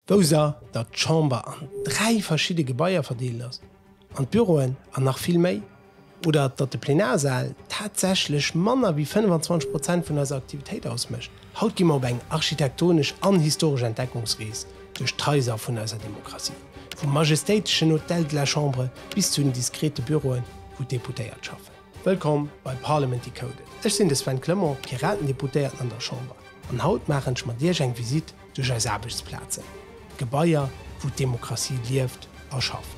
Ausser datt d'Chamber an dräi verschidde Gebaier verdeelt ass, an d'Büroen an nach vill méi, oder datt de Plenarsal tatsächlech manner wéi 25 Prozent vun eiser Aktivitéit ausmécht, haut gi mer op eng architektonesch an historesch Entdeckungsrees duerch d'Haiser vun eiser Demokratie, vum majestéiteschen Hôtel de la Chambre bis zu den diskrete Büroen, wou d'Deputéiert schaffen. Wëllkomm bei Parliament Decoded! Ech sinn de Sven Clement, Piratendeputéierten an der Chamber, an haut maachen ech mat Iech eng Visite duerch eis Aarbechtsplazen, Gebaier, wou d'Demokratie lieft a schafft.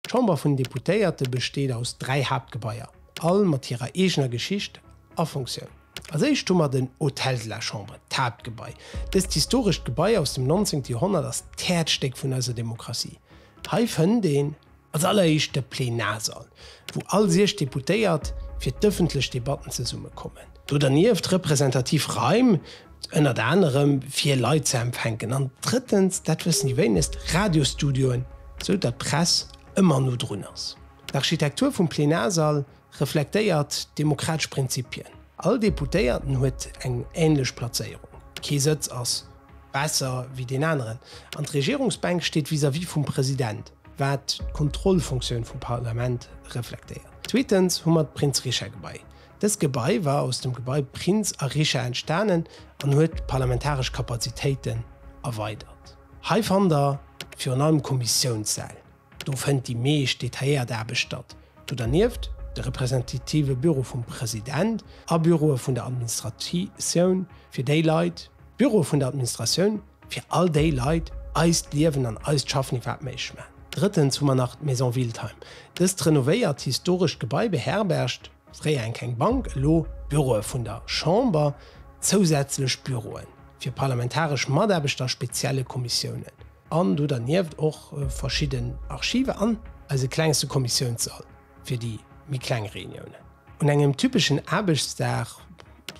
D'Chamber vun den Deputéierte besteet aus dräi Haaptgebaier, all mat hirer eegener Geschicht a Funktioun. Als éischt hu mer den Hôtel de la Chambre, d'Haaptgebai. Dëst historescht Gebai aus dem 19. Joerhonnert ass d'Häerzstéck vun eiser Demokratie. Hei fënnt een Als alleréischt de Plenarsall, wou all 6 Deputéiert fir d'ëffentlech Debatten zesummekommen. Do dernieft representativ Raim, ënnert anerem fir Leit ze empfänken. An drëttens, dat wëssen déi wéinegst, Radiostudioen, esou datt d'Press ëmmer no drun ass. D'Architektur vum Plenarsall Reflektéiert d'demokratesch Prinzipien. All Deputéierten huet eng änlech Plazéierung, kee Sëtz ass besser wéi deen aneren an d'Regierungsbänk steet vis-à-vis vum President, wat d'Kontrollfunktioun vum Parlament reflektéiert. Zweetens hu mer d'Prinz-Richard-Gebai. Dëst Gebai war aus dem Gebai Prinz a Richard entstanen an huet d'parlamentaresch Kapazitéiten erweidert. Hei fannt Der virun allem Kommissiounssäll. Do fënnt déi meescht detailléiert Aarbecht statt. Do dernieft de representative Büro vum President a Büroe vun der Administratioun fir déi Leit, Büroe vun der Administratioun fir all déi Leit eist Liewen an eist Schaffen iwwerhaapt méiglech maachen. Drëttens hu mer nach d'Maison Wildheim. Dëst renovéiert historescht Gebai beherbergt, fréier eng kleng Bank, elo Büroe vun der Chamber, zousätzlech Büroe fir parlamentaresch Mataarbechter a spezielle Kommissiounen. An do dernieft och verschidden Archive an eise klengste Kommissiounssall fir déi méi kleng Reuniounen. Un engem typeschen Aarbechtsdag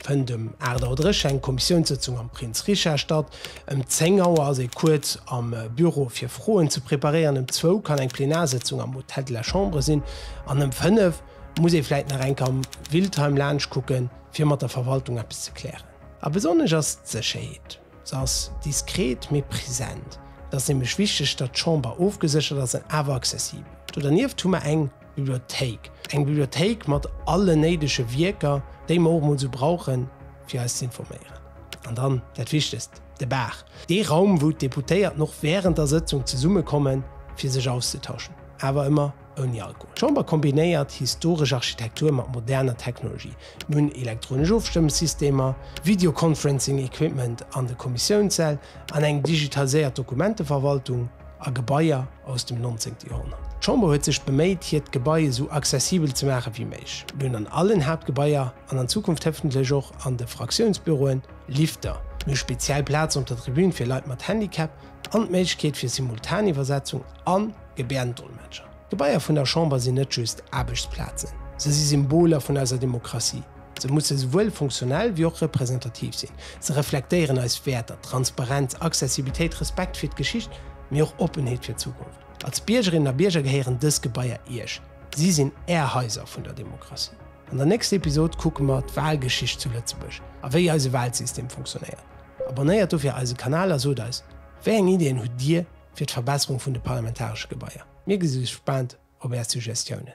fënnt ëm 8 Auer dréch eng Kommissiounssëtzung am Prince Richard statt, ëm 10 Auer ass ee kuerz am Büro fir Froen ze preparéieren, ëm zwou kann eng Plenarsëtzung am Hôtel de la Chambre sinn an ëm fënnef muss ee vläit nach eng Kéier am Wildheim laanscht kucken, fir mat der Verwaltung eppes ze klären. A besonnesch ass d'Sécherheet. Se ass diskret, mee present. Et ass nämlech wichteg, datt d'Chamber ofgeséchert ass an awer accessibel. Do dernieft hu mer eng Bibliothéik. Eng Bibliothéik mat allen néidege Wierker, déi mer och emol esou brauchen, fir eis z'informéieren. An dann dat Wichtegst, de Bar. Dee Raum, wou d'Deputéierten och wärend der Sëtzung zesummekommen, fir sech auszetauschen, awer ëmmer ouni Alkohol. D'Chamber kombinéiert historesch Architektur mat moderner Technologie. Mir hunn elektronesch Ofstëmmesystemer, Videoconferencing Equipment an de Kommissiounssäll an eng digitaliséiert Dokumenteverwaltung a Gebaier aus dem 19. Joerhonnert. D'Chamber huet sech beméit, hiert Gebai esou accessibel ze maache wéi méiglech. Mir hunn an allen Haaptgebaier an an Zukunft hoffentlech och an de Fraktiounsbüroen Lifter. Mir hu speziell Plazen op der Tribün fir Leit mat Handicap an d'Méiglechkeet fir Simultaniwwersetzung an. Gebärdendolmetscher. D'Gebaier vun der Chamber sinn net just Aarbechtsplazen, se si Symboler vun eiser Demokratie. Se musse souwuel funktionell wéi och representativ sinn. Se reflektéieren eis Wäerter, Transparenz, Accessibilitéit, Respekt fir d'Geschicht, mee och Oppenheet fir d'Zukunft. Als Biergerinnen a Bierger gehéieren dës Gebaier Iech. Si sinn Är Haiser vun der Demokratie. An der nächster Episod kucke mer d'Walgeschicht zu Lëtzebuerg a wéi eise Walsystem funktionéiert. Abonnéiert dofir eise Kanal a sot eis, wéi eng Ideeën hutt Dir? fir d'Verbesserung vun de parlamentaresche Gebaier. Mir gi sou gespaant op Är Suggestiounen.